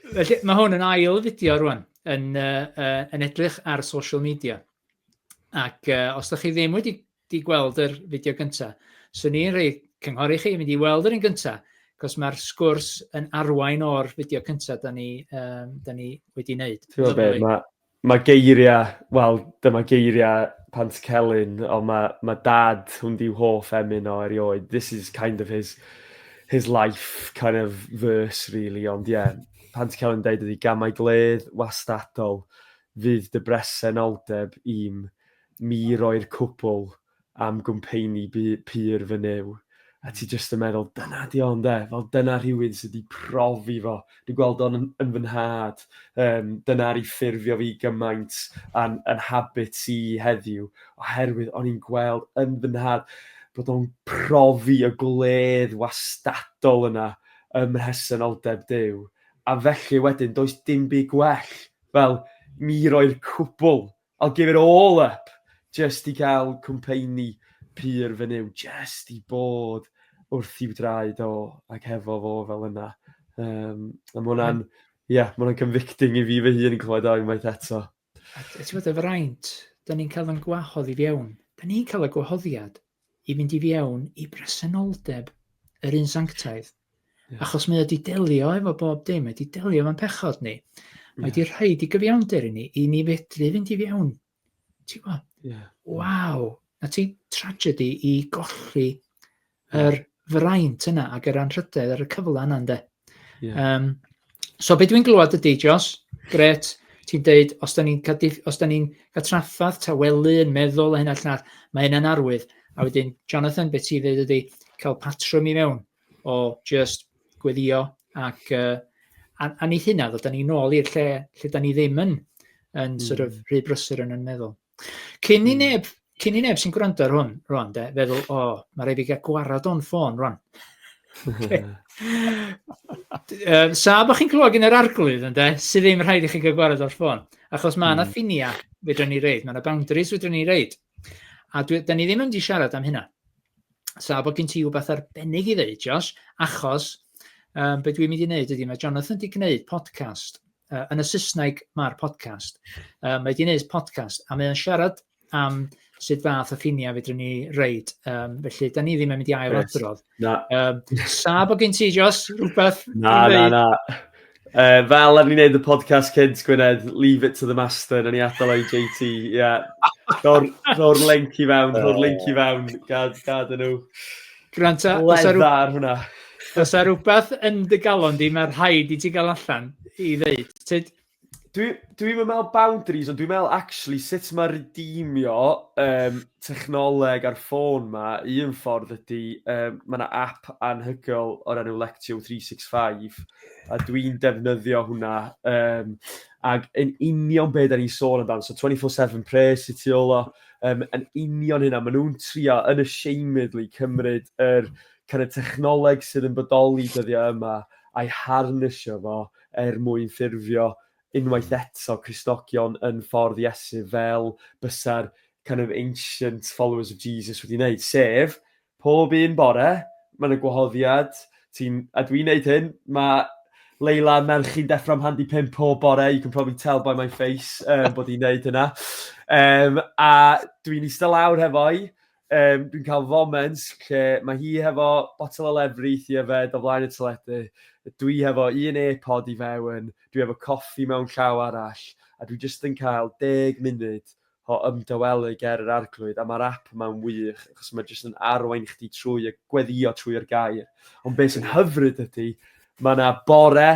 Felly, mae hwn yn ail fideo rwan, yn, uh, uh, yn edrych ar social media. Ac uh, os da chi ddim wedi di gweld yr fideo gyntaf, swn i'n rhoi cynghori chi mynd i weld yr un gyntaf, cos mae'r sgwrs yn arwain o'r fideo cyntaf da ni, um, da ni wedi wneud. Ti'n gwybod beth, mae Mae geiriau, wel, dyma geiriau Pantycelyn, ond mae, mae dad, hwn di'w hoff emyn o erioed. This is kind of his, his life kind of verse, really. Ond ie, yeah, Pantycelyn yn dweud ydi gamau gledd wastadol, fydd dy bresenoldeb i'm mi roi'r cwbl am gwmpeini pur fy nyw, a ti jyst yn meddwl, dyna di o ynde, fel dyna rhywun sydd wedi profi fo, dwi'n gweld o'n yn fy nhad, um, dyna ar ei ffurfio fi gymaint yn, yn habit i heddiw, oherwydd o'n i'n gweld yn fy nhad bod o'n profi y gwledd wastadol yna ym mhresenoldeb Duw, a felly wedyn does dim byd gwell fel mi roi'r cwbl I'll give it all up jyst i gael cwmpeini pur fy nyw, jyst i bod wrth i'w draed o ac hefo fo fel yna. Um, a mae hwnna'n, mm. ie, yeah, mae hwnna'n convicting i fi fy hun yn clywed o unwaith eto. A ti'n bod y fraint, da ni'n cael yn gwahodd i fiewn. Da ni'n cael y gwahoddiad. i fynd i fiewn i bresenoldeb yr un sanctaidd. Yeah. Achos mae o wedi delio efo bob dim, mae wedi delio efo'n pechod ni. Mae wedi yeah. rhoi i gyfiawnder i ni, i ni fedru fynd i fiewn. Ti'n gwybod? Yeah. Waw! Na ti tragedy i golli yr fraint yna ac yr anrhydedd ar y cyfle yna ynde. Yeah. Um, so beth dwi'n glywed ydy, Jos, gret, ti'n deud, os da ni'n ni cael traffath, tawelu, yn meddwl a hyn allan all, mae hynna'n arwydd. A wedyn, Jonathan, beth ti'n dweud ydy, cael patrwm i mewn o just gweddio ac uh, a, a ni hynna, ddod ni nôl i'r lle lle da ni ddim yn, yn mm. sort of hmm. rhy brysur yn yn meddwl. Cyn i hmm. neb, cyn i neb sy'n gwrando ar hwn, rwan, de, feddwl, o, oh, mae rhaid i gael gwarad o'n ffôn, rwan. Okay. um, sa, bod chi'n clywed gen yr arglwydd, ynddo, sydd ddim rhaid i chi gael gwarad o'r ffôn. Achos mae yna mm. ffinia fedra ni reid, mae yna boundaries fedra ni reid. A dwi, da ni ddim yn di siarad am hynna. Sa, bod gen ti rhywbeth arbennig i ddeud, Josh, achos um, beth dwi'n mynd i wneud ydy, mae Jonathan wedi gwneud podcast uh, yn y Saesneg mae'r podcast. Uh, mae wedi gwneud podcast, a mae'n siarad am sut fath o ffiniau fydrwn ni reid. Um, felly, da ni ddim yn mynd i ail adrodd. Na. Um, sa bod gen ti, Jos, rhywbeth? Na, na, na. Uh, fel ar ni'n neud y podcast cynt, Gwynedd, leave it to the master, na ni atal o'i JT, ie. Yeah. Rho'r link i fewn, rho'r link i fewn, gad, gad yn nhw. Gwrand ta, os ar hwnna. Os ar rhywbeth yn dy galon di, mae rhaid i ti gael allan i ddeud. Tyd... Dwi'n dwi meddwl boundaries, ond dwi'n meddwl actually sut mae redeemio um, technoleg ar ffôn ma, un ffordd ydy, um, mae yna app anhygoel o'r enw Lectio 365, a dwi'n defnyddio hwnna, um, ac yn union beth da ni'n sôn amdano, so 24-7 pres i ti olo, Um, yn union hynna, maen nhw'n trio yn y seimedlu cymryd yr kind of, technoleg sydd yn bodoli dyddiau yma a'i harnysio fo er mwyn ffurfio unwaith hmm. eto Christogion yn ffordd Iesu fel bysa'r kind of ancient followers of Jesus wedi wneud, sef Pob un bore, mae yna gwahoddiad, ti'n... a dwi'n neud hyn, mae Leila a merch i'n deffro am handi pump pob bore, you can probably tell by my face um, bod i'n neud hynna. Um, a dwi'n eistedd lawr hefo'i, um, dwi'n cael foment lle mae hi hefo botol o lefri i yfed o flaen y teledu, dwi hefo un e-pod i fewn, dwi hefo coffi mewn llaw arall, a dwi jyst yn cael deg munud o ymdawelu ger yr Arglwydd, a mae'r ap yma'n wych, achos mae jyst yn arwain chdi trwy y gweddio trwy yr gair. Ond beth sy'n hyfryd ydy, mae yna bore,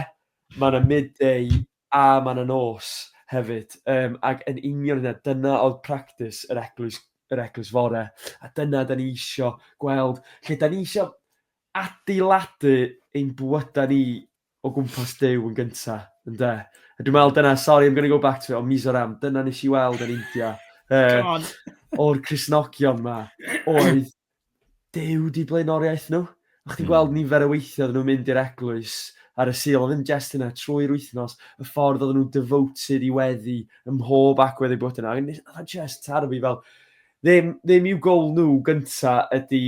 mae yna midday, a mae yna nos hefyd. Um, ac yn union yna, dyna oedd practis yr eglwys, yr eglwys fore. A dyna da ni eisiau gweld, lle da ni eisiau adeiladu ein bywydau ni o gwmpas Duw yn gynta, ynde? A dwi'n meddwl dyna, sorry I'm going to go back to it, o Mizoram, dyna nes i weld yn India. Uh, o'r Crisnogion ma, oedd Duw di blaenoriaeth nhw. O'ch ti'n hmm. gweld nifer y weithio oedden nhw'n mynd i'r eglwys ar y sil, oedd yn jest yna trwy'r wythnos, y ffordd oedden nhw'n devoted i weddi ym mhob agwedd ei bod yna. Oedd yn just tarfu fel, ddim, ddim i'w gol nhw gynta ydy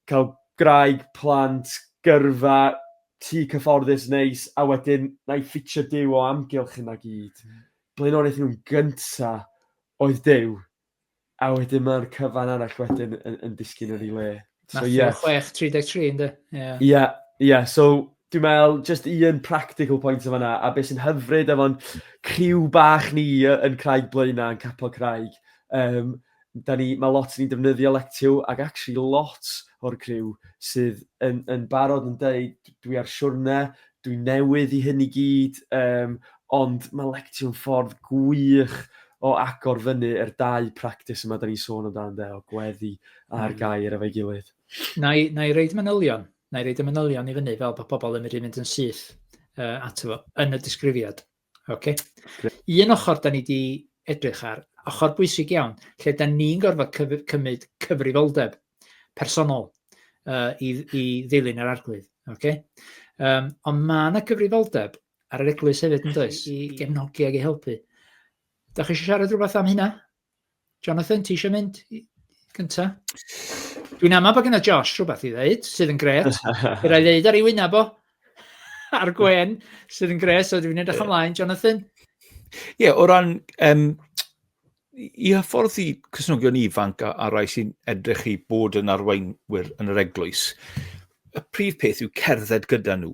cael gwraig, plant, gyrfa, tŷ cyfforddus neis, a wedyn na i ffitio Duw o amgylch hynna gyd. Mm. Blaenoriaeth nhw'n gynta oedd Duw, a wedyn mae'r cyfan arall wedyn yn, yn disgyn yn ei le. So, Matthew yeah. 6, 33, ynddo? Ie, yeah. yeah. so dwi'n meddwl, just un practical point o fanna, a beth sy'n hyfryd efo'n criw bach ni yn Craig Blaena, yn Capel Craig, um, Da ni, mae lot ni'n defnyddio Lectio ac actually lot o'r criw sydd yn yn barod yn deud dwi ar siwrne, dwi newydd i hyn i gyd yym ond mae Lectio yn ffordd gwych o agor fyny yr dau practis yma da ni'n sôn amdano ynde o gweddi a'r hmm. gair efo'i gilydd. Na i, na i reid manylion, na i reid y manylion i fyny fel bod pobl yn mynd i fynd yn syth uh, ato fo yn y disgrifiad. Ok. Un ochr da ni wedi edrych ar, ochr bwysig iawn, lle da ni'n gorfod cyf cymryd cyfrifoldeb personol uh, i, i ddilyn yr arglwydd. Okay? Um, ond mae yna gyfrifoldeb ar yr eglwys hefyd yn does, i gefnogi ag i helpu. Da chi eisiau siarad rhywbeth am hynna? Jonathan, ti eisiau mynd gynta? Dwi'n amau bod gyda Josh rhywbeth i ddeud, sydd yn gret. Bydd rhaid ddeud ar ei wyneb o. A'r gwen, sydd yn gret, so dwi'n edrych ymlaen. Jonathan? Ie, yeah, o ran... Um, I hyffordd i cysnogion ifanc a, a rai sy'n edrych i bod yn arweinwyr yn yr eglwys, y prif peth yw cerdded gyda nhw.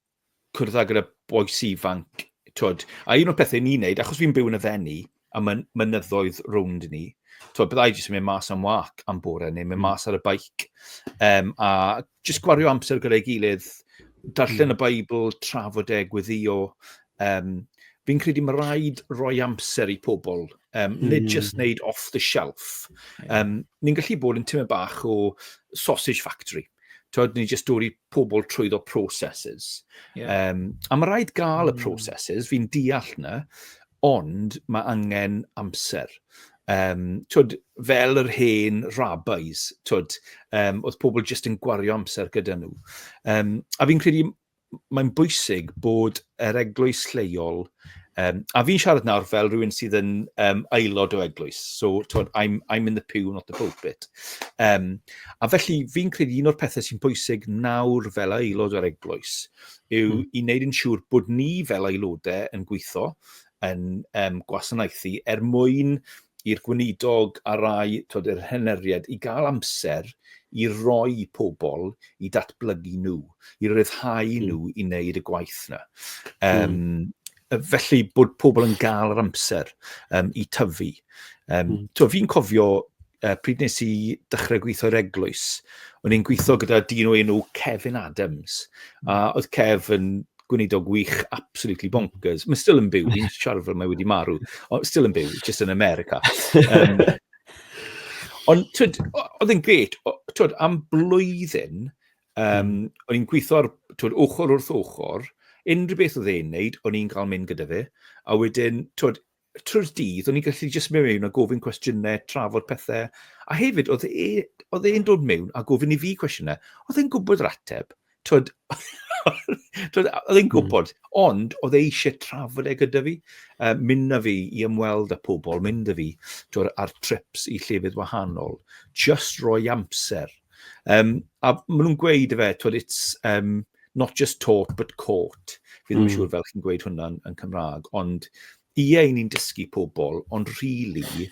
cwrdd ag y boes ifanc, twyd. A un o'r pethau ni'n neud, achos fi'n byw yn y fenni, a mae'n mynyddoedd rownd ni, twyd, byddai jyst yn mynd mas am wac am bore, neu mynd hmm. mas ar y baic, um, a jyst gwario amser gyda'i gilydd, darllen hmm. y Beibl, trafod e, gweddio. Um, fi'n credu mae rhaid roi amser i pobl, um, mm. nid just wneud hmm. off the shelf. Um, ni'n gallu bod yn tyma bach o sausage factory. Twyd, ni jyst dod i pobl trwyddo processes. Yeah. Um, a mae rhaid gael y hmm. processes, fi'n deall na, ond mae angen amser. Um, twyd, fel yr hen rabbis, twyd, um, oedd pobl jyst yn gwario amser gyda nhw. Um, a fi'n credu mae'n bwysig bod yr eglwys lleol Um, a fi'n siarad nawr fel rhywun sydd yn um, aelod o eglwys. So, tod, I'm, I'm in the pew, not the pulpit. Um, a felly, fi'n credu un o'r pethau sy'n bwysig nawr fel aelod o'r eglwys yw mm. i wneud yn siŵr bod ni fel aelodau yn gweithio, yn um, gwasanaethu, er mwyn i'r gweinidog a rai tod, yr heneriad i gael amser i roi pobl i datblygu nhw. i ryddhau hmm. nhw i wneud y gwaith yna. Um, mm. Felly bod pobl yn gael yr amser um, i tyfu. Um, mm. to, fi'n cofio uh, pryd nes i dechrau gweithio i'r eglwys, o'n i'n gweithio gyda dyn o enw Kevin Adams, a hmm. oedd Kev yn gwneud o gwych absolutely bonkers. Mae still yn byw, fi'n siarad fel mae wedi marw, ond still yn byw, just yn America. Um, ond oedd yn gret, twyd, am blwyddyn, Um, mm. O'n i'n gweithio ar twyd, ochr wrth ochr, unrhyw beth oedd e'n neud, o'n i'n cael mynd gyda fe, a wedyn, twyd, trwy'r dydd, o'n i'n gallu jyst mynd mewn a gofyn cwestiynau, trafod pethau, a hefyd, oedd e, oedd e'n dod mewn a gofyn i fi cwestiynau, oedd e'n gwybod yr ateb, twyd, oedd e'n hmm. gwybod, mm. ond oedd e eisiau trafod e gyda fi, uh, mynd na fi i ymweld â pobl, mynd na fi, twyd, ar trips i llefydd wahanol, just roi amser, Um, a maen nhw'n gweud y fe, twyd, it's um, not just taught but caught. Fi ddim yn mm. siŵr fel chi'n gweud hwnna yn, yn Cymraeg, ond ie, yeah, ni'n dysgu pobl, ond rili, really,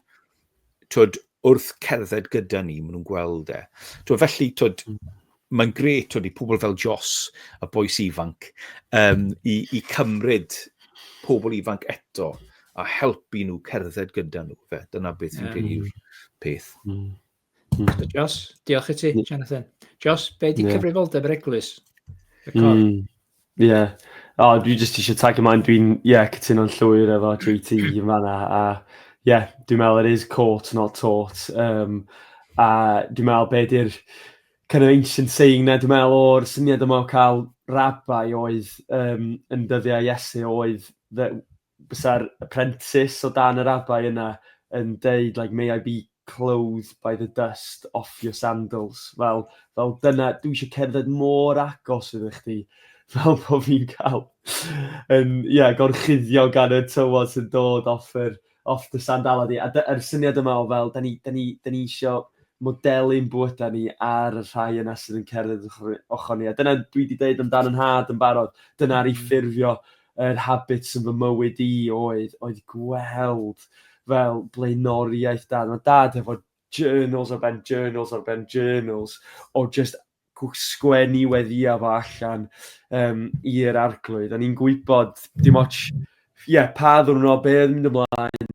twyd, wrth cerdded gyda ni, maen nhw'n gweld e. Twyd, felly, twyd, mm. mae'n gret twyd, i pobl fel Jos, y boes ifanc, um, i, i cymryd pobl ifanc eto a helpu nhw cerdded gyda nhw. Fe, dyna beth fi'n yeah. credu yw'r peth. Mm. Mm. So, Jos, diolch i ti, mm. Jonathan. Jos, be di yeah. cyfrifoldeb yr eglwys? Y cor? Mm. Yeah. O, oh, dwi jyst eisiau tag ymlaen, dwi'n, ie, yeah, cytuno'n llwyr efo JT yn fanna, a ie, yeah, dwi'n meddwl it is caught, not taught, um, a dwi'n meddwl be di'r kind of ancient saying na, dwi'n meddwl o'r syniad yma o cael rabai oedd um, yn dyddiau Iesu oedd that bysa'r apprentice o dan yr abai yna yn deud like may I be clothed by the dust off your sandals fel fel dyna dwi eisiau cerdded mor agos iddo chdi fel bod fi'n cael yn ie yeah, gorchuddio gan y tywod sy'n dod off yr off the sandala di a dy'r syniad yma o fel da ni da ni da ni eisiau modelu'n bwyta ni ar y rhai yna sydd yn cerdded ochr ni a dyna dwi wedi deud amdan yn had yn barod dyna'r i mm. ffurfio yr habits yn fy mywyd i oedd oedd gweld fel blaenoriaeth Dad. Mae Dad hefo journals ar ben journals ar ben journals o just sgwennu weddiau fo allan um, i'r arglwydd. A ni'n gwybod dim ots ie, yeah, pa ddwrnod, be oedd mynd ymlaen,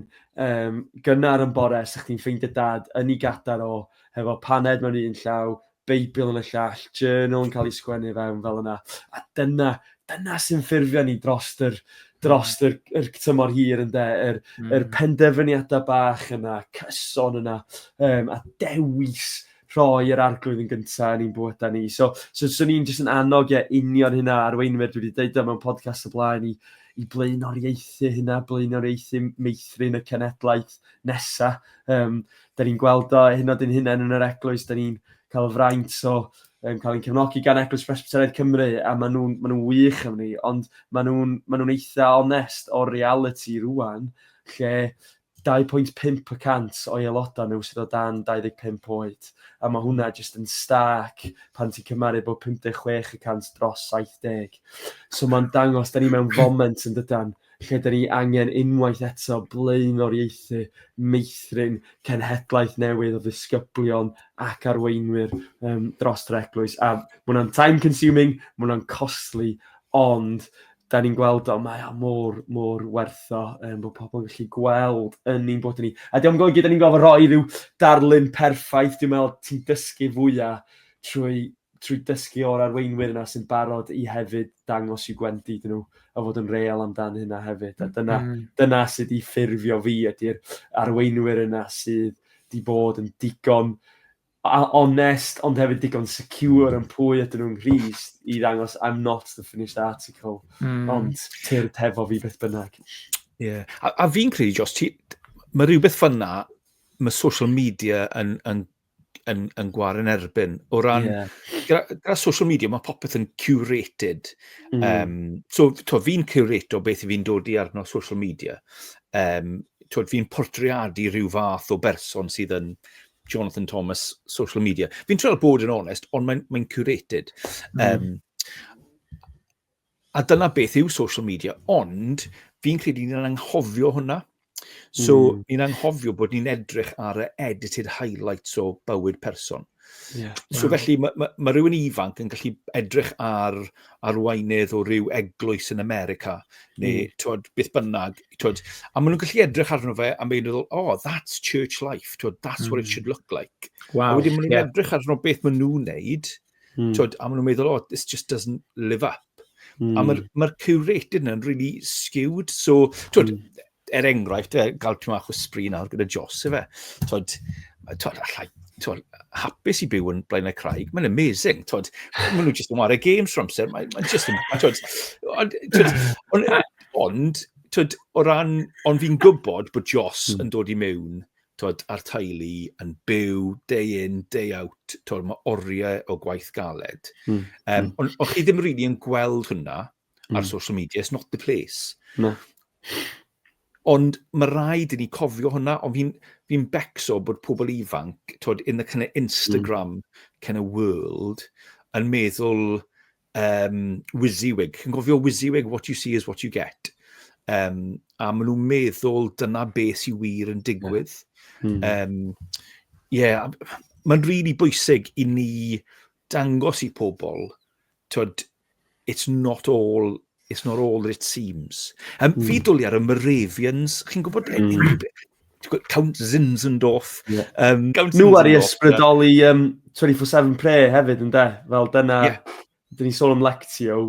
um, gynnar yn bore, sa'ch chi'n ffeindio dad yn ei gadar o, hefo paned mewn un llaw, Beibl yn y llall, journal yn cael ei sgwennu fewn fel yna. A dyna, dyna sy'n ffurfio ni dros yr, dros yr, yr tymor hir yn de, yr, mm. yr penderfyniadau bach yna, cyson yna, um, a dewis rhoi yr arglwydd yn gyntaf yn ein bywydau ni. So, so, so ni'n jyst yn annog e union hynna arweinwyr, dwi wedi deud o mewn podcast y blaen i, i blaenoriaethu hynna, blaenoriaethu meithrin y cenedlaeth nesaf. Um, da ni'n gweld o hyn oed yn hunain yn yr eglwys, da ni'n cael y fraint o um, cael ein cefnogi gan Eglwys Presbyteraidd Cymru, a maen nhw'n ma nhw wych am ni, ond maen nhw'n ma nhw eitha onest o'r reality rwan, lle 2.5% o'i aelodau nhw sydd o dan 25 oed, a mae hwnna jyst yn stark pan ti'n cymaru bod 56% dros 70. So mae'n dangos, da ni mewn foment yn dydan, lle 'da ni angen unwaith eto blaenoriaethu meithrin cenhedlaeth newydd o ddisgyblion ac arweinwyr um, dros yr eglwys. A mae hwnna'n time consuming, mae hwnna'n costly, ond da ni'n gweld o, mae o mor, mor wertho, um, bod pobl yn gallu gweld yn ni'n bod ni. A diolch yn golygu, da ni'n gofod roi rhyw darlun perffaith, dwi'n meddwl ti'n dysgu fwyaf trwy trwy dysgu o'r arweinwyr yna sy'n barod i hefyd dangos i'w gwendid iddyn nhw a fod yn real amdan hynna hefyd. A dyna, mm. dyna sydd wedi ffurfio fi ydy'r arweinwyr yna sydd wedi bod yn digon onest ond hefyd digon secure yn pwy ydyn nhw'n Nghris i ddangos I'm not the finished article mm. ond tyrd hefo fi beth bynnag. Yeah. A, a fi'n credu, Jos, ti, mae rhywbeth fyna, mae social media yn, yn yn, yn gwar yn erbyn. O ran, yeah. gyda, gyda social media, mae popeth yn curated. Mm. Um, so, to, fi'n curato beth fi'n dod i arno social media. Um, to, fi'n portreadu rhyw fath o berson sydd yn Jonathan Thomas social media. Fi'n treol bod yn onest, ond mae'n mae curated. Mm. Um, A dyna beth yw social media, ond fi'n credu ni'n anghofio hwnna. So, mm. ni'n anghofio bod ni'n edrych ar y edited highlights o bywyd person. Yeah, so, wow. felly, mae ma, ma rhywun ifanc yn gallu edrych ar arweinydd o ryw eglwys yn America, neu mm. twod, beth bynnag, twod, a maen nhw'n gallu edrych arno fe a mae'n meddwl, oh, that's church life, twod, that's mm. what it hmm. should look like. Wow, a wedyn maen nhw'n yeah. edrych arno beth maen nhw'n neud, Mm. Twyd, a maen nhw'n meddwl, oh, this just doesn't live up. Mm. A mae'r ma curated yna'n really skewed. So, twyd, mm. er enghraifft, e, gael ti'n mach o sbri nawr gyda Jos, efe. Twyd, twyd, allai, twyd, hapus i byw yn blaen y craig. Mae'n amazing. Twyd, maen nhw just yn wario games for amser. Mae'n ma just yn... Twyd, ond, twyd, ond, twyd, o ran, ond fi'n gwybod bod Jos mm. yn dod i mewn tibod, a'r teulu yn byw day in, day out, tibod, mae oriau o gwaith galed. Mm. Um, ond on chi ddim rili really yn gweld hwnna mm. ar hmm. social media, it's not the place. No. Ond mae rhaid i ni cofio hwnna, ond fi'n fi becso bod pobl ifanc, tod, in the kind of Instagram mm. kind of world, yn meddwl, um, WYSIWYG. Chi'n gofio WYSIWYG, what you see is what you get. Um, a maen nhw'n meddwl dyna be sy'n wir yn digwydd. Yeah. Mm. Um, yeah, mae'n rili really bwysig i ni dangos i pobl, tyd, it's not all It's not all it seems. Um, mm. Fi dwli ar y Moravians, chi'n gwybod mm. unrhyw beth? Count Zinzendorf. Yeah. Um, Count Nhw ar i ysbrydoli um, 24-7 pre hefyd yn de, fel dyna, yeah. dyn ni sôn am Lectio,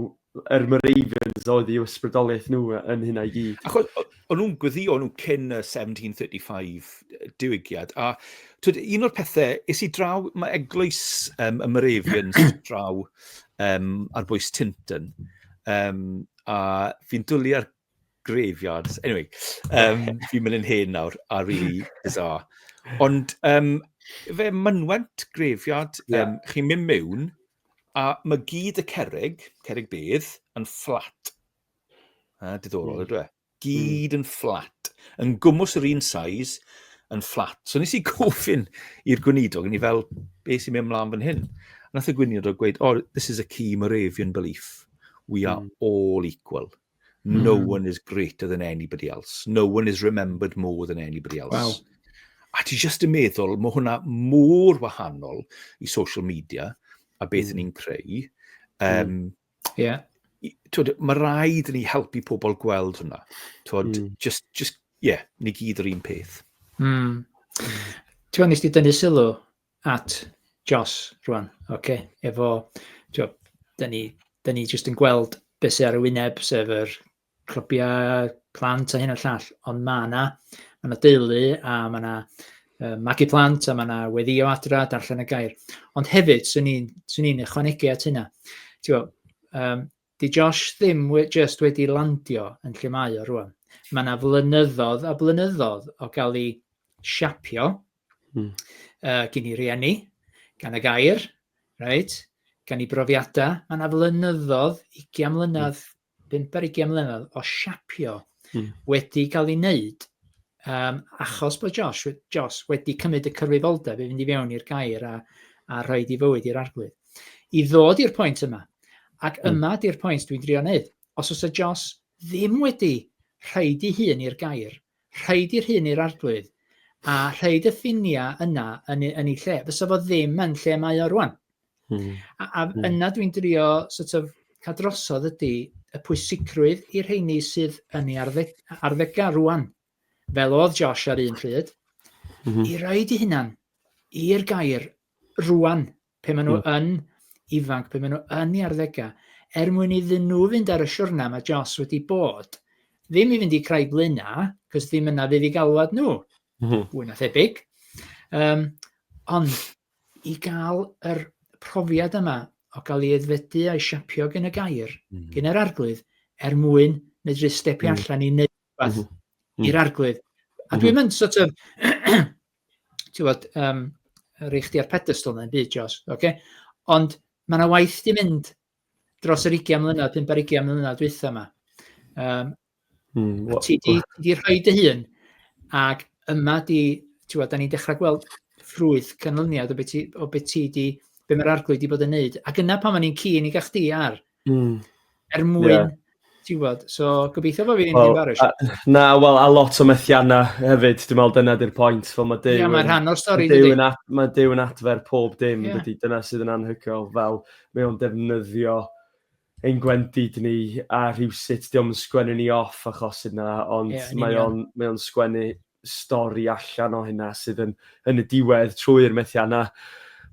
yr er Moravians oedd i ysbrydoliaeth nhw yn hynna i gyd. Achos, o'n nhw'n gweddio nhw cyn y 1735 diwygiad. A twyd, un o'r pethau, is i draw, mae eglwys um, y Moravians draw um, ar bwys Tinton. Um, a fi'n dwlu ar graveyards. Anyway, um, fi'n mynd yn hen nawr, a really bizarre. Ond um, fe mynwent graveyard, um, yeah. chi'n mynd mewn, a mae gyd y cerig, cerig bedd, yn fflat. A, diddorol, mm. ydw e? Gyd mm. yn fflat, yn gwmwys yr un saes, yn fflat. So nes i gofyn i'r gweinidog, ni fel, be sy'n mynd mlaen fan hyn? A nath y gweinidog gweud, oh, this is a key Moravian belief. We are mm. all equal. No mm. one is greater than anybody else. No one is remembered more than anybody else. Wow. A ti jyst yn meddwl, mae hwnna mor wahanol i social media a beth mm. ni'n creu. Um, mm. Ie. Yeah. Twyd, mae rhaid ni helpu pobl gweld hwnna. Twyd, mm. just, just, yeah, ni gyd yr un peth. Mm. Ti'n nes di dynnu sylw at Jos rwan, oce, okay. efo, ti'n da ni, da ni just yn gweld beth sy'n ar y wyneb, sef yr clybiau plant a hyn a llall, ond mae yna, mae yna deulu a mae yna uh, magu plant a mae yna weddio adra, darllen y gair. Ond hefyd, swn i'n sw ni ychwanegu at hynna. Bo, um, di Josh ddim we, just wedi landio yn lle mae o rwan. Mae yna flynyddoedd a blynyddoedd o gael ei siapio mm. uh, gyn i rieni, gan y gair, right? gan i brofiadau. Mae yna flynyddoedd, 20 mlynedd, mm bump ar ugian mlynedd o siapio mm. wedi cael ei wneud um, achos bod Josh, Josh wedi cymryd y cyfrifoldeb i fynd i fewn i'r gair a, a rhoi di fywyd i'r arglwydd. I ddod i'r pwynt yma, ac mm. yma di'r pwynt dwi'n drio wneud, os oes y Josh ddim wedi rhoi di hun i'r gair, rhoi di'r hun i'r arglwydd, a rhoi y ffiniau yna yn, yn ei lle, fysa fo ddim yn lle mae o rwan. Hmm. A, a hmm. yna dwi'n drio sort of, cael drosodd ydy y pwysigrwydd i'r rheini sydd yn ei arddeg, arddega rwan, fel oedd Josh ar un pryd, mm -hmm. i roed i hunan i'r gair rwan, pe maen nhw mm. yn ifanc, pe maen nhw yn ei arddega, er mwyn iddyn nhw fynd ar y siwrna mae Josh wedi bod, ddim i fynd i Craig Lyna, cos ddim yna fydd i galwad nhw, mm -hmm. fwy na thebyg. Um, ond i gael yr profiad yma o gael ei aeddfedu a'i siapio gen y gair, mm -hmm. gen yr arglwydd, er mwyn medru stepio mm -hmm. allan i wneud rhywbeth mm -hmm. i'r arglwydd. A mhm. dwi'n mynd sort of, ti'n bod, um, rei chdi ar pedestal na'n byd, Jos, oce? Okay? Ond mae yna waith di mynd dros yr 20 mlynedd, 5 ar 20 mlynedd dwytha yma. Um, mm, what, ti di, di rhoi dy hun, ac yma di, ti'n gwybod, da ni'n dechrau gweld ffrwyth canlyniad o beth ti, o beth ti di, be mae'r arglwydd di bod yn neud. Ac yna pan o'n i'n cyn i gach di ar, mm. er mwyn yeah. ti'n gwybod, so gobeithio bod fi'n well, ddim barus. Uh, na, wel, a lot o methiannau hefyd, dwi'n meddwl dyna di'r pwynt. Fel mae Dew, yeah, mae rhan o'r stori, Dew yn, ad, mae Dew yn adfer pob dim, yeah. dydy, dyna sydd yn anhygoel. Fel, mae o'n defnyddio ein gwendid ni a rhywsut, diolch yn sgwennu ni off achos yna, ond yeah, mae o'n mae on sgwennu stori allan o hynna sydd yn, yn y diwedd trwy'r methiannau.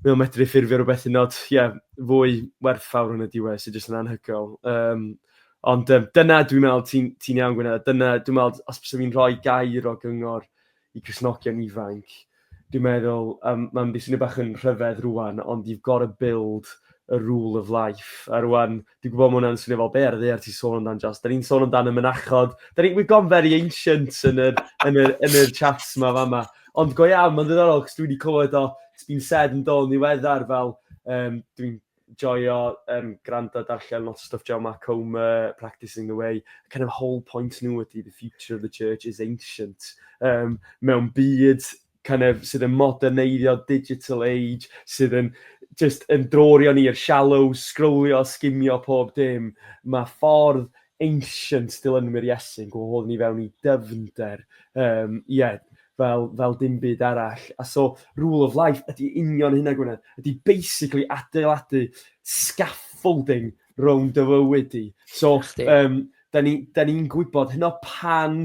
Mae o'n medru ffurfio rhywbeth yn oed yeah, fwy werthfawr yn y diwedd sydd jyst yn anhygoel. Um, ond um, dyna dwi'n meddwl ti'n ti iawn Gwynedd, dyna dwi'n meddwl os bys fi'n rhoi gair o gyngor i Cresnogion ifanc, dwi'n meddwl um, mae'n beth sy'n bach yn rhyfedd rwan, ond you've got to build a rule of life. A rwan, Dwi'n gwybod mae hwnna'n swnio fel be ar y ddear ti'n sôn amdano, Jos. Da ni'n sôn amdano y mynachod. Da ni, we've gone very ancient yn yr, yn yr, yn yr chats yma fama. Ond go iawn, mae'n ddiddorol, cos dwi wedi clywed o, it's been said yn dol niweddar fel, um, dwi'n joio um, gwrando darllen lot o stuff Joe Mark Comer, Practicing the Way, kind of whole point nhw ydy the future of the church is ancient. Um, mewn byd kind of, sydd yn moderneiddio digital age, sydd yn just yn drorion i'r shallow, sgrwlio, sgimio pob dim. Mae ffordd ancient dilynwyr Iesu'n gwahodd ni fewn i dyfnder. Um, yeah, fel, fel dim byd arall. A so, rule of life ydy union hynna Gwynedd, ydy basically adeiladu scaffolding rown dy fywyd di. So, um, da ni'n ni, ni gwybod hynna pan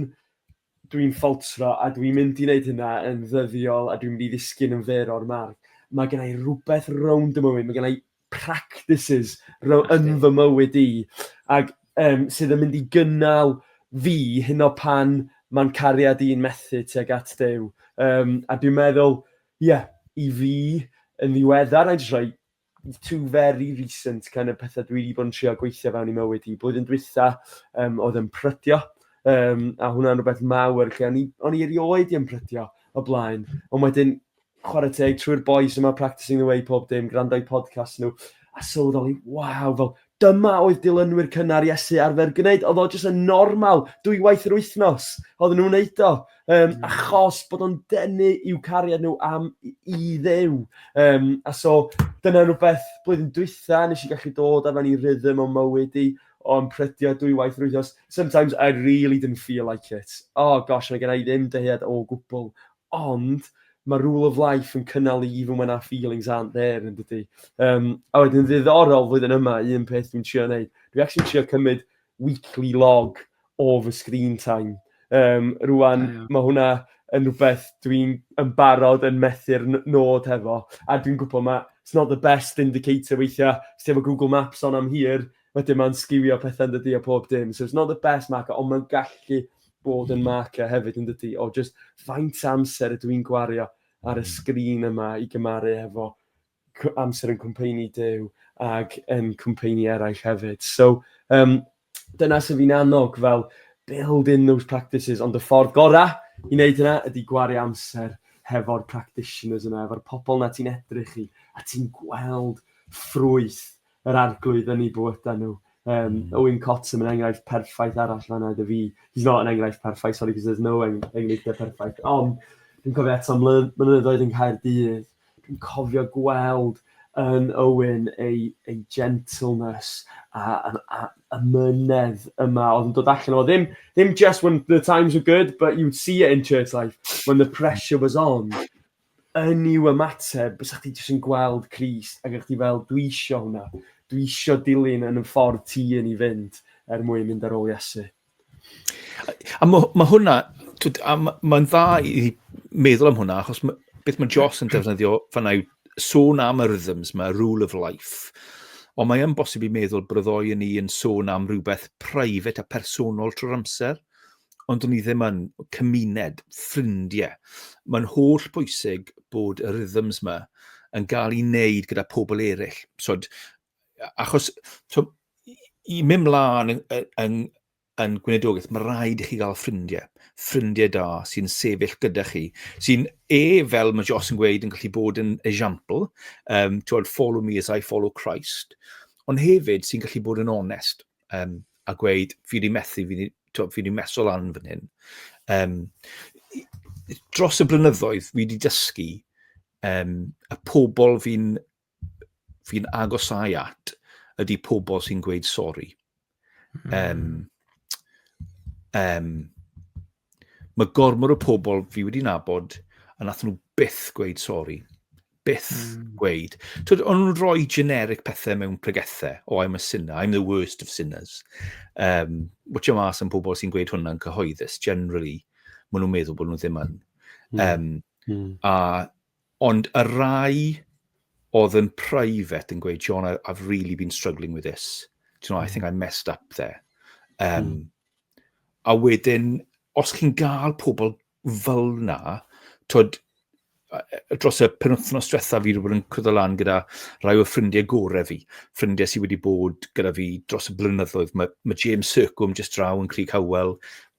dwi'n ffaltro a dwi'n mynd i wneud hynna yn ddyddiol a dwi'n mynd i ddisgyn yn fyr o'r marc. Mae gen i rhywbeth rownd y mywyd, mae gen i practices row, yn fy mywyd i ac um, sydd yn mynd i gynnal fi hyn o pan mae'n cariad i'n methu tuag at Dew. Um, a dwi'n meddwl, ie, yeah, i fi yn ddiweddar, na i jyst rhoi two very recent kind of petha dwi 'di bod yn trio gweithio fewn i mywyd i. Blwyddyn dwytha, um, oedd yn prydio, um, a hwnna'n rhywbeth mawr, lle o'n i, o'n i erioed i yn prydio o blaen. Ond wedyn, chwarae teg, trwy'r boys yma, practicing the way pob dim, gwrando'i podcast nhw, a sylweddoli, waw, fel Dyma oedd dilynwyr cynnar Iesu arfer gwneud. Oedd o jyst yn normal, dwywaith yr wythnos. Oedden nhw'n neud o. Um, mm. Achos bod o'n denu i'w cariad nhw am i ddew. Um, a so, dyna rhywbeth blwyddyn dwytha, nes i gallu dod a fan i rhythm o mywyd i o'n prydio dwywaith yr wythnos. Sometimes I really didn't feel like it. Oh gosh, mae gen i ddim dyhead o gwbl Ond mae Rule of Life yn cynnal i even when our feelings aren't there yn dydy. Um, a wedyn ddiddorol flwyddyn yma, un peth dwi'n trio wneud, dwi'n actually trio cymryd weekly log o fy screen time. Um, rwan, yeah. mae hwnna yn rhywbeth dwi'n yn barod yn methu'r nod hefo. A dwi'n gwybod mae, it's not the best indicator weithiau, os efo Google Maps on am hir, Wedyn mae'n sgiwio pethau yn dydi a pob dim. So it's not the best marker ond mae'n gallu bod yn marker hefyd yn dydi o just faint o amser ydw i'n gwario ar y sgrin yma i gymaru hefo amser yn cwmpeini Duw ac yn cwmpeini eraill hefyd. So, um, dyna sy'n fi'n annog fel build in those practices, ond y ffordd gorau i wneud hynna ydy gwario amser hefo'r practitioners yna, efo'r pobl na ti'n edrych i, a ti'n gweld ffrwyth yr arglwydd yn eu bywydau nhw. Um, mm. Owen Cottam yn enghraifft perffaith arall fanna dy fi. He's not an enghraifft perffaith, sorry, because there's no enghraifft perffaith. Ond, dwi'n cofio eto mynyddoedd yn cael dydd. Dwi'n cofio gweld yn Owen ei, ei gentleness a, a, a, a mynedd yma oedd yn dod allan o ddim, ddim just when the times were good, but you'd see it in church life when the pressure was on. yn i'w ymateb, bysa chdi jyst yn gweld Crist ac o'ch chdi fel, dwi isio hwnna, dwi isio dilyn yn y ffordd ti yn ei fynd er mwyn mynd ar ôl Iesu. A mae ma hwnna, mae'n dda i meddwl am hwnna, achos ma, beth mae Joss yn defnyddio fanna yw sôn am y rhythms mae rule of life. Ond mae'n bosib i meddwl bod y ddoi yn ni yn sôn am rhywbeth private a personol trwy'r amser. ond o'n i ddim yn cymuned, ffrindiau. Mae'n holl bwysig bod y rhythms yma yn cael ei wneud gyda pobl eraill. So, achos so, i mynd mlaen yn, yn, yn gwnedogaeth, mae rhaid i chi gael ffrindiau. Ffrindiau da sy'n sefyll gyda chi, sy'n e, fel mae Jos yn gweud, yn gallu bod yn esiampl, um, twod, follow me as I follow Christ, ond hefyd sy'n gallu bod yn onest. um, a gweud, fi wedi methu, fi wedi, fi wedi meso lan fan hyn. Um, dros y blynyddoedd, fi wedi dysgu um, y pobl fi'n fi agosau at ydy pobl sy'n gweud sori. Um, um, Mae gormod o pobl fi wedi nabod a nath nhw byth gweud sori. Byth mm. gweud. Twyd, o'n nhw'n rhoi generic pethau mewn pregethau. Oh, I'm a sinner, I'm the worst of sinners. Um, watch your mas am pobl sy'n gweud hwnna'n cyhoeddus. Generally, maen nhw'n meddwl bod nhw ddim yn. Mm. Um, mm. A Ond y rai oedd yn private yn gweud, Sean, I've really been struggling with this. Do you know, I think I messed up there. Um, mm. A wedyn, os chi'n gael pobl fel na, tod, dros y penwthnos diwetha fi wedi bod yn cwyddo lan gyda rhai o ffrindiau gorau fi, ffrindiau sydd wedi bod gyda fi dros y blynyddoedd. Mae, mae James Circum just draw yn Crig Howell,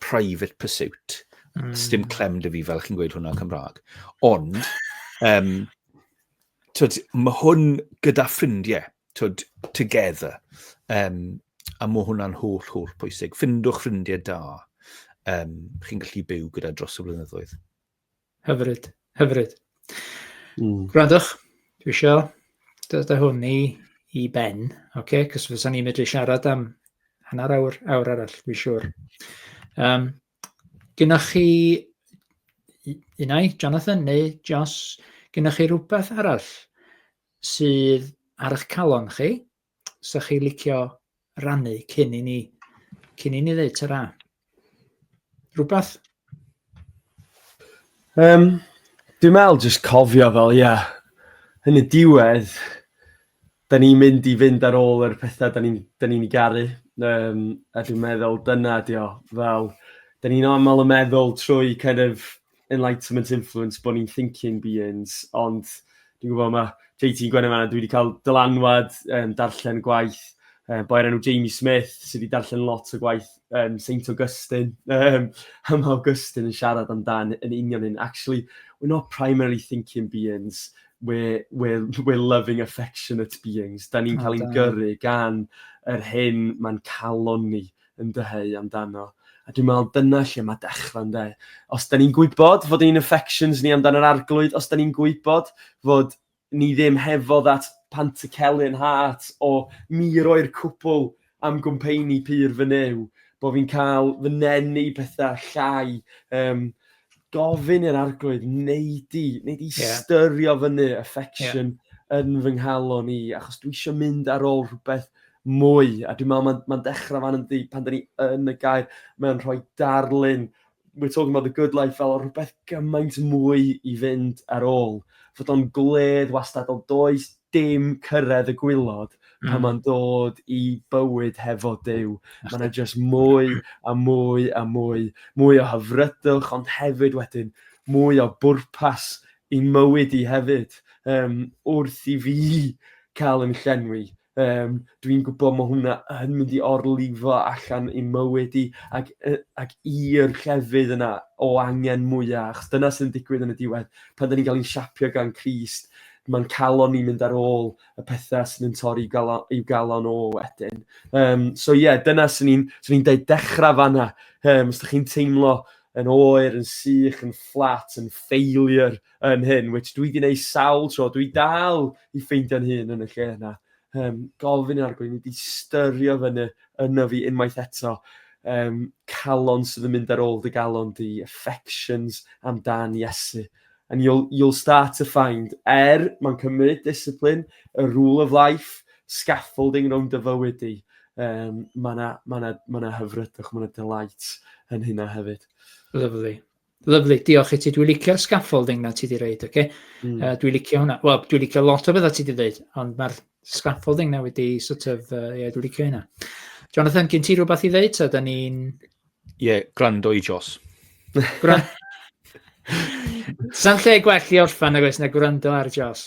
private pursuit. Mm. Stim clem dy fi fel chi'n gweud hwnna'n Cymraeg. Ond, um, twyd, mae hwn gyda ffrindiau, twyd, together. Um, a mae hwnna'n holl, holl pwysig. Ffindwch ffrindiau da. Um, chi'n gallu byw gyda dros y blynyddoedd. Hyfryd, hyfryd. Mm. Gwrandwch, dwi isio dod â hwn i, i ben, oce? Okay? Cos fysa ni'n medru siarad am hanner awr, awr arall, dwi'n siŵr. Um, gynnwch chi unau, Jonathan neu Jos, gynnwch chi rhywbeth arall sydd ar eich calon chi, sa chi licio rannu cyn i ni, cyn i ni ddeud ta Rhywbeth? Um, dwi'n meddwl jyst cofio fel, ie, yeah, yn y diwedd, da ni'n mynd i fynd ar ôl yr pethau da ni'n ni, ni garu. Um, a dwi'n meddwl dyna di o, fel, da ni'n aml yn meddwl trwy kind of, enlightenment influence bod ni'n thinking beings, ond dwi'n gwybod mae JT yn gwneud yma, dwi wedi cael dylanwad um, darllen gwaith um, boi'r enw Jamie Smith sydd wedi darllen lot o gwaith um, Saint Augustine. Um, a mae Augustine yn siarad amdan yn union hyn. Actually, we're not primarily thinking beings, we're, we're, we're loving affectionate beings. Da ni'n cael ein gyrru gan yr hyn mae'n calon ni. yn dyheu amdano. A dwi'n meddwl dyna lle mae dechrau ynde. Os da ni'n gwybod fod ein affections ni amdan yr arglwydd, os da ni'n gwybod fod ni ddim hefo that Pantycellian heart o mi roi'r cwpl am gwmpeini pur fy new, bod fi'n cael fy nenu i pethau llai, um, gofyn i'r arglwydd wneud i, wneud i yeah. styrio fyny affection yeah. yn fy nghalon i, achos dwi eisiau mynd ar ôl rhywbeth mwy, a dwi'n meddwl mae'n ma dechrau fan ynddi pan da ni yn y gair, mae'n rhoi darlun, we're talking about the good life fel rhywbeth gymaint mwy i fynd ar ôl, fod o'n gwledd wastad, ond does dim cyrraedd y gwylod mm. pan mae'n dod i bywyd hefo Dyw. Mae yna jyst mwy a mwy a mwy, mwy o hyfrydwch, ond hefyd wedyn mwy o bwrpas i mywyd i hefyd, um, wrth i fi cael yn llenwi Yym, dwi'n gwybod mae hwnna yn mynd i orlifo allan i'n mywyd i, ac yy ac i'r llefydd yna o angen mwya', achos dyna sy'n digwydd yn y diwedd, pan 'dan ni'n cael ein siapio gan Crist, mae'n calon ni mynd ar ôl y pethau sydd yn torri galon, i'w galon o wedyn. Um, so ie, yeah, dyna sy'n ni'n so ni deud dechrau fanna, um, os ydych chi'n teimlo yn oer, yn sych, yn fflat, yn failure, yn hyn, which dwi wedi gwneud sawl tro, dwi dal i ffeindio'n hun yn y lle yna. Um, gofyn yn argwyn, wedi styrio fyny yna fi unwaith eto. Um, calon sydd yn mynd ar ôl dy galon di, affections amdan Iesu. And you'll, you'll start to find, er mae'n cymryd discipline, y rule of life, scaffolding rhwng dy fywyd di, um, mae yna ma ma hyfrydwch, mae yna delight yn hynna hefyd. Lovely. Lyfli, diolch i ti. Dwi'n licio scaffolding na ti wedi reid, oce? Okay? Mm. Uh, dwi'n licio hwnna. Wel, dwi'n licio lot o bethau ti wedi dweud, ond mae'r scaffolding na wedi sort of, uh, yeah, dwi'n licio hynna. Jonathan, gen ti rhywbeth i ddeud? So, da ni'n... Ie, yeah, gwrando i Jos. Gwrando. Sa'n lle gwell i orffan ag oes na gwrando ar Jos?